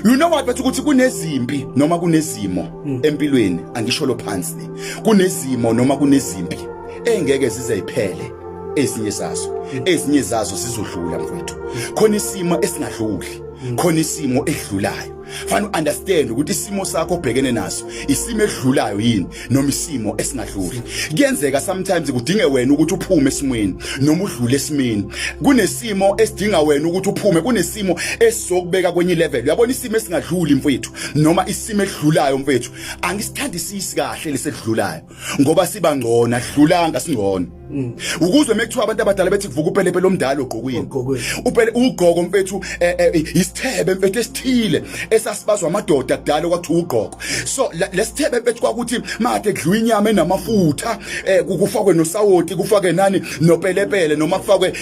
you know what bathi ukuthi kunezimpi noma kunezimo hmm. empilweni angisho lo phansi le kunezimo noma kunezimpi engeke zize iphele ezinye zazo hmm. ezinye zazo sizodlula mfowethu khona isimo esingadluli hmm. khona isimo edlulayo fanele understand ukuthi isimo sakho obhekene naso isimo edlulayo yini noma isimo esingadluli kuyenzeka sometimes kudinge wena ukuthi uphume esimweni noma udlule esimeni kunesimo esidinga wena ukuthi uphume kunesimo esizokubeka kwenye level uyabona isimo esingadluli mfethu noma isimo edlulayo mfethu angisithandisisi kahle lesedlulayo ngoba siba ngcona dlulanga singcona Mm. Ukuzwe mekuthiwa abantu abadala bethi kuvuka upelepele omdala ogqokweni. Upele ugqoko mfethu eh, eh, isithebe mfethu esithile esasibazwa amadoda kudala kwathi ugqoko. So lesithebe mfethu kwakuthi made kudliwa inyama enamafutha eh, kufakwe nosawoti kufake nani nopelepele noma kufakwe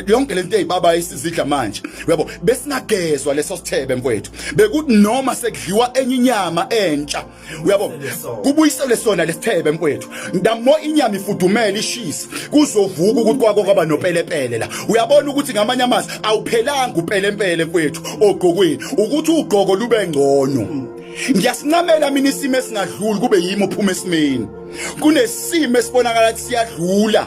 yonke lento ezibaba esizidla manje. Uyabo besingagezwa leso sithebe mfethu. Bekuthi noma sekudliwa enye inyama entsha uyabo kubuyiselwe sona lesithebe mfowethu ndamo inyama ifudumele ishisa kuzovuka ukuthi kwako kwaba nopelepele la uyabona ukuthi ngamanye amazi awuphelanga upelempele mfowethu ogqokweni ukuthi ugqoko lube ngcono ngiyasincamela mina isimo esingadluli kube yimi ophuma esimeni kunesimo esibonakala siyadlula